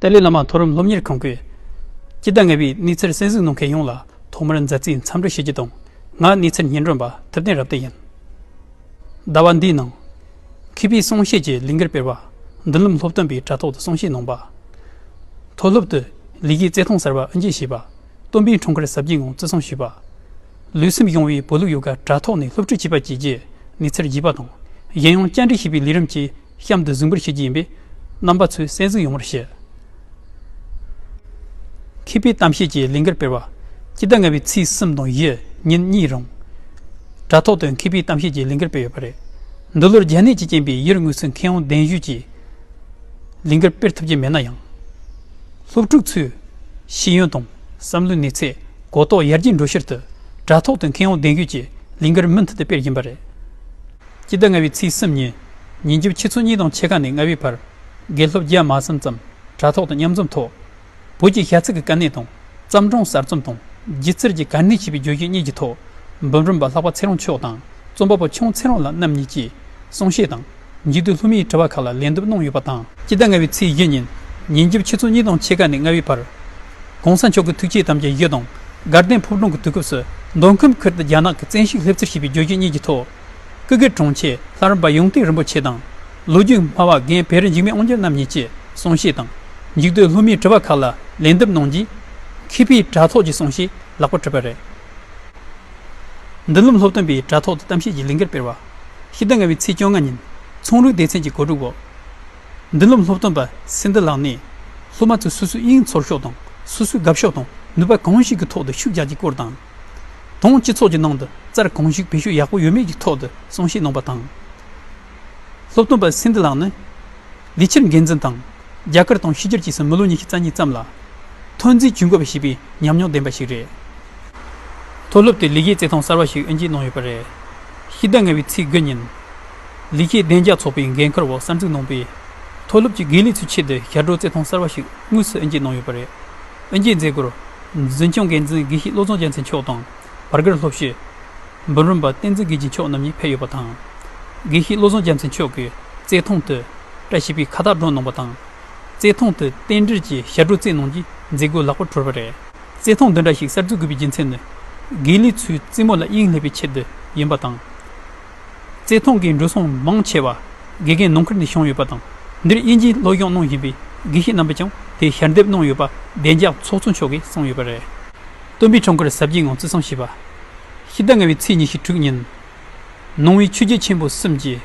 ཏཱ་ལའི་བླ་མ་མཐོ་རིམ་སློབ་གཉེར་ཁང་གི་སྤྱི་ཟླ་ལྔ་པའི་གནས་ཚུལ་གསན་གཟིགས་གནང་མཁན་ཡོངས་ལ་ཐོག་མར་མཛའ་བརྩེའི་འཚམས་འདྲི་ཞུ་རྒྱུ་དང་ང་གནས་ཚུལ་སྙན་སྒྲོན་པ་ཐུབ་བསྟན་རབ་བརྟན་ཡིན། ཟླ་བ་འདིའི་ནང། མཁས་པའི་གསུང་བཤད་ཀྱི་ལས་འགུལ་སྤེལ་བ། མདུན་ལམ་སློབ་སྟོན་པའི་དྲ་ཐོག་ཏུ་གསུང་བཤད་གནང་པ། མཐོ་སློབ་ཏུ་ལས་ཀའི་རྩལ་ཐང་གསར་པ་དབུ་འབྱེད་བྱས་པ། སྟོན་པའི་འཁྲུངས་སྐར་གཟབ་རྒྱས་ངང་བརྩི་སྲུང་ཞུས་པ། ལུས་སེམས་ཡོང་བའི་བོད་ལུགས་ཡོ་ག་དྲ་ཐོག་ནས་སློབ་ཁྲིད་བྱས་པ་བཅས་ཀྱི་གནས་ཚུལ་བརྒྱུད་པ་དང་གཞན་ཡང་བཅར་འདྲི་བྱེད་པའི་ལས་རིམ་གྱི་གཤམ་དུ་གཟིགས་འབུལ་བྱེད་ཀྱི་ཡིན་པས་རྣམ་པ་ཚོས་གསན་གཟིགས་ཡོང་བར་བཤད། མཁས་པའི་གཏམ་བཤད་ཀྱི་ལས་འགུལ་སྤེལ་བ། སྤྱི་ཟླ་ལྔ་བའི་ཚེས་གསུམ་དང་བཞི་ཉིན་གཉིས་རིང། དྲ་ཐོག་ཏུ་མཁས་པའི་གཏམ་བཤད་ཀྱི་ལས་འགུལ་སྤེལ་ཡོད་པ་རེད། འདི་ལོར་རྒྱ་ནད་ཀྱི་རྐྱེན་པས་ཡུལ་དངོས་སུ་མཁས་དབང་གདན་ཞུས་ཀྱིས་ལས་འགུལ་སྤེལ་ཐུབ་ཀྱི་མེད་ན་ཡང། སློབ་ཕྲུག་ཚོའི་ཤེས་ཡོན་དང་བསམ་བློའི་གནས་ཚད་གོ་རྟོགས་ཡར་རྒྱས་འགྲོ་ཕྱིར་དུ་དྲ་ཐོག་ཏུ་མཁས་དབང་གདན་ཞུས་ཀྱིས་ལས་འགུལ་མུ་མཐུད་དུ་སྤེལ་བཞིན་པ་རེད། སྤྱི་ཟླ་ལྔ་བའི་ཚེས་གསུམ་ཉིན། ཉིན་རྒྱབ་ཕྱི་ཚོ་གཉིས་དང་ཕྱེད་ཀ་ནས་ལྔ་བའི་བར། དགེ་སློབ་རྒྱ་དམར་གསུམ་ཙམ་དྲ་ཐོག་ཏུ་མཉམ་འཛོམས་ཐོག། བོད་ཀྱི་ཤ་ཚིག་གི་དཀའ་གནད་དང་བརྩམས་སྒྲུང་གསར་རྩོམ་དང་སྒྱུ་རྩལ་གྱི་གར་སྣེ་ཞེས་པའི་བརྗོད་གཞི་གཉིས་ཀྱི་ཐོག། འབུམ་རམས་པ་ལྷག་པ་ཚེ་རོང་མཆོག་དང་རྩོམ་པ་པོ་ཆུང་ཚེ་རོང་ལགས་རྣམ་གཉིས་ཀྱིས་གསུང་བཤད་དང། མཇུག་ཏུ་ལྷུ་མེད་དྲི་བ་ཁག་ལ་ལན་འདེབས་གནང་ཡོད་པ་དང། སྤྱི་ཟླ་ལྔ་བའི་ཚེས་བཞི་ཉིན། ཉིན་རྒྱབ་ཕྱི་ཚོ་གཉིས་དང་ཕྱེད་ཀ་ནས་ལྔ་བའི་བར། ྋགོང་ས་མཆོག་གི་ཐུགས་བསྐྱེད་དམ་བཅའ་བཞི་དང་དགའ་ལྡན་ཕུག་སྒྲོན་གྱི་དུས་སྐབས་སུ་མདོ་ཁམས་ཁུལ་དུ་རྒྱ་ནག་གི་བཙན་ཤུགས་སླེབས་ཚུལ་ཞེས་པའི་བརྗོད་གཞི་གཉིས་ཀྱི་ཐོག། ཀུ་གེ་གྲོང་ཁྱེར་ལྷ་རམས་པ་ཡོངས་གཏིང་རིན་པོ་ཆེ་དང། ལོ་རྒྱུས་སྨྲ་བ་རྒན་བེར་འཇིགས་མེད་དབང་རྒྱལ་རྣམ་གཉིས་ཀྱིས་གསུང་བཤད་དང། མཇུག་ཏུ་ལྷོ་མིའི་དྲི་བ་ཁག་ལ་ལན་འདེབས་གནང་རྗེས། མཁས་པའི་དྲྭ་ཐོག་གི་གསུང་བཤད་ལག་པ་གྲུབ་པ་རེད། མདུན་ལམ་སློབ་སྟོན་པས་དྲྭ་ཐོག་ཏུ་གཏམ་བཤད་ཀྱི་ལས་འགུལ་སྤེལ་བ། ཕྱི་ཟླ་ལྔ་བའི་ཚེས་བཅོ་ལྔ་ཉིན་ཚོང་རུལ་སྡེ་ཚན་གྱི་གོ་སྒྲིག་འོག་མདུན་ལམ་སློབ་སྟོན་པ་སེང་རྡི་ལགས་ནས། སློབ་མ་ཚོས་སོ་སོའི་དབྱིངས་ཚོར་ཤོག་དང་སོ་སོའི་དགའ་ཕྱོགས་དང་ནུས་པ་གང་ཞིག་གི་ཐོག་ཏུ་ཤུགས་རྒྱག་རྒྱུའི་སྐོར་དང། དང་སྤྱི་ཚོགས་ཀྱི་ནང་དུ་རྩར་གང་ཞིག་བེད་སྤྱོད་ཡག་པོ་ཡོད་མེད་ཀྱི་ཐོག་ཏུ་གསུང་བཤད་གནང་བ་དང། སློབ་སྟོན་པ་སིན་དྷི་ལགས་ནི་ལས་འཁྱུར་འགན་འཛིན་དང་རྒྱ་གར་དང་ཕྱི་རྒྱལ་གྱིས་སུ་མི་ལོ་ཉི་ཤུ་རྩ་གཉིས་ཙམ་ལ་ཐོན་རྫས་ཇུས་འགོད་པ་བྱས་པའི་ཉམས་མྱོང་ལྡན་པ་ཞིག་རེད། མཐོ་སློབ་དེ་ལི་ཁེའི་བརྩེ་ཐང་གསར་བ་ཞིག་དབྱེ་འབྱེད་གནང་ཡོད་པ་རེད། ཕྱི་ཟླ་ལྔ་བའི་ཚེས་དགུ་ཉིན། ལི་ཁེའི་བདེ་འཇགས་ཚོགས་པའི་འགན་ཁུར་འོག་གསར་འཛུགས་གནང་པའི་མཐོ་སློབ་ཀྱི་དགེ་ལས་ཚོའི་ཆེད་དུ་ཞབས་བྲོ་བརྩེ་ཐང་གསར་བ་ཞིག་དངོས་སུ་དབྱེ་འབྱེད་གནང་ཡོད་པ་རེད། དབོན་རྒྱལ་མཛད་སྒོར་འཛིན་སྐྱོང་འགན་འཛིན་དགེ་བཤེས་བློ་བཟང་རྒྱལ་མཚན་མཆོག་དང་བར་བརྒལ་སློབ་བཤད་འབུམ་རམས་པ་བསྟན་འཛིན་དགེ་བྱེད་མཆོག་རྣམ་གཉིས་ཕེབས་ཡོད་པ་དང། དགེ་བཤེས་བློ་བཟང་རྒྱལ་མཚན་མཆོག་གིས་རྩེད་ཐང་དུ་བཀྲ་ཤིས་པའི་ཁ་བཏགས་བསྒྲོན་གནང་བ་དང། རྩེད་ཐང་དུ་རྟེན་འབྲེལ་གྱི་ཞྭ་སྒྲོ་རྩེ་གནང་རྗེས་མཛད་སྒོ་ལེགས་པོར་གྲོལ་བ་རེད། རྩེད་ཐང་འདི་འདྲ་ཞིག་གསར་འཛུགས་དགོས་པའི་རྒྱུ་མཚན་ནི། དགེ་ལས་ཚོའི་རྩེད་མོ་ལ་དབྱིངས་སླེབས་པའི་ཆེད་དུ་ཡིན་པ་དང། བརྩེ་དུང་གི་འགྲོ་སོང་མང་ཆེ་བ་དགེ་རྒན་ནང་ཁུལ་ནས་བྱུང་ཡོད་པ་དང་འདིར་དབྱིན་ཇིའི་སློབ་སྦྱོང་གནང་བཞིན་པའི་དགེ་བཤེས་རྣམ་པས་ཀྱང་དེ་ཞལ་འདེབས་གནང་ཡོད་པ་བདེ་འཇགས་ཚོགས་གཙོ་མཆོག་གིས་གསུངས་ཡོད་པ་རེད། སྟོན་པའི་འཕྲང་འཁོར་ཟབ་རྒྱས་ངང་བརྩི་སྲུང་བྱས་པ། ཕྱི་ཟླ་ལྔ་བའི་ཚེས་ཉི་ཤུ་དྲུག་ཉིན། ནང་བའི་ཆོས་རྒྱལ་ཆེན་པོ་གསུམ་གྱིས།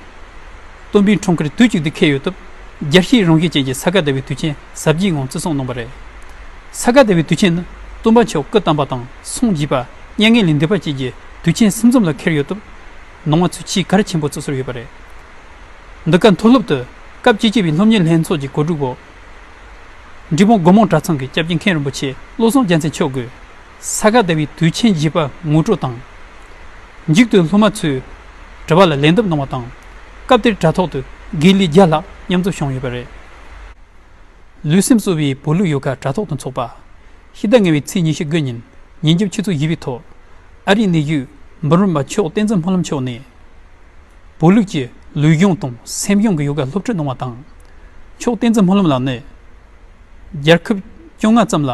སྟོན་པའི་འཕྲང་འཁོར་དུས་གཅིག་ཏུ་འཁེལ་ཡོད་སྟབས་རྒྱལ་སྤྱིའི་རང་བཞིན་ཅན་གྱི་ས་ག་ཟླ་བའི་དུས་ཆེན་ཟབ་རྒྱས་ངང་བརྩི་སྲུང་གནང་བ་རེད། ས་ག་ཟླ་བའི་དུས་ཆེན་ནི་སྟོན་པ་མཆོག་སྐུ་བལྟམས་པ་དང་སངས་རྒྱས་པ་མྱ་ངན་ལས་འདས་པ་བཅས་ཀྱི་དུས་ཆེན་གསུམ་འཛོམས་ལ་འཁེལ་ཡོད་སྟབས། ནང་བ་ཚོས་ཆེས་གལ་ཆེན་པོ་རྩོད་སྲོལ་ཡོད་པ་རེད། འདི་ག་མཐོ་སློབ་ཏུ་སྐབས་བཅུ་གཅིག་པའི་སློབ་གཉེར་ལྷན་ཚོགས་ཀྱི་གོ་སྒྲིག་འོག་འབྲི་སྤུངས་སྒོ་མང་གྲྭ་ཚང་གི་སྐྱབས་རྗེ་མཁན་རིན་པོ་ཆེ་བློ་བཟང་རྒྱལ་མཚན་མཆོག་གིས་ས་ག་ཟླ་བའི་དུས་ཆེན་བཞི་པ་ངོ་སྤྲོད་དང། མཇུག་ཏུ་སློབ་མ་ཚོས་དྲི་བ་ལ་ལན་འདེབས་གནང་བ་དང། སྐབས་དེར་དྲ་ཐོག་ཏུ་དགེ་ལས་བརྒྱ་ལྷག་མཉམ་འཛོམས་བྱུང་ཡོད་པ་རེད། ལུས་སེམས་གསོ་བའི་བོད་ལུགས་ཡོ་ག་དྲ་ཐོག་ཏུ་འཚོགས་པ། ཕྱི་ཟླ་ལྔ་བའི་ཚེས་ཉི་ཤུ་དགུ་ཉིན་ཉིན་རྒྱབ་ཆུ་ཚོད་བཞི་པའི་ཐོག་ཨ་རིའི་གནས་བཞུགས་འབུམ་རམས་པ་མཆོག་བསྟན་འཛིན་སྨོན་ལམ་མཆོག་ནས། བོད་ལུགས་ཀྱི་ལུས་སྦྱོང་དང་སེམས་སྦྱོང་གི་ཡོ་ག་སློབ་ཁྲིད་གནང་བ་དང། མཆོག་བསྟན་འཛིན་སྨོན་ལམ་ལགས་ནས། རྒྱལ་ཁབ་བཅོ་ལྔ་ཙམ་ལ་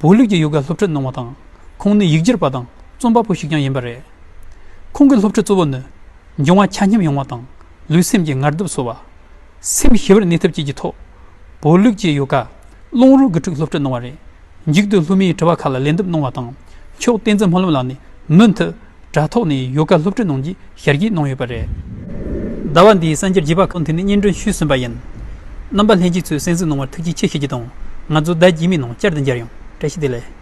བོད་ལུགས་ཀྱི་ཡོ་ག་སློབ་ཁྲིད་གནང་བ་དང་ཁོང་ནི་ཡིག་སྒྱུར་པ་དང་རྩོམ་པ་པོ་ཞིག་ཀྱང་ཡིན་པ་རེད། ཁོང་གི་སློབ་ཁྲིད་གཙོ་བོ་ནི་འབྱུང་བ་ཆ་མཉམ་ཡོང་བ་དང་ལུས་སེམས་ཀྱི་ངར་སྡུག་གསོ་བ། སེམས་ཞི་བར་གནས་ཐབས་བཅས་ཀྱི་ཐོག་བོད་ལུགས་ཀྱི་ཡོ་ག་བླང་རོགས་དགུ་ཕྲུག་སློབ་ཁྲིད་གནང་བ་རེད། མཇུག་ཏུ་ལྷོ་མིའི་དྲི་བ་ཁག་ལ་ལན་འདེབས་གནང་བ་དང། མཆོག་བསྟན་འཛིན་ལྷ་ལུང་ལགས་ནས་མུ་མཐུད་དྲ་ཐོག་ནས་ཡོ་ག་སློབ་ཁྲིད་གནང་རྒྱུའི་ཞལ་བཞེས་གནང་ཡོད་པ་རེད། ཟླ་བ་འདིའི་གསར་འགྱུར་བརྒྱུད་པ་ཁག་ཐེངས་ནས་སྙན་སྒྲོན་ཞུས་ཟིན་པ་ཡིན། རྣམ་པ་ལྷན་སྐྱེས་ཚོས་གསན་གཟིགས་གནང་བར་ཐུགས་རྗེ་ཆེ་ཞུ་རྒྱུ་དང་ང་ཚོ་ཟླ་རྗེས་མའི་ནང་བསྐྱར་དུ་མཇལ་ཡོང་བཀྲ་ཤིས་བདེ་ལེགས།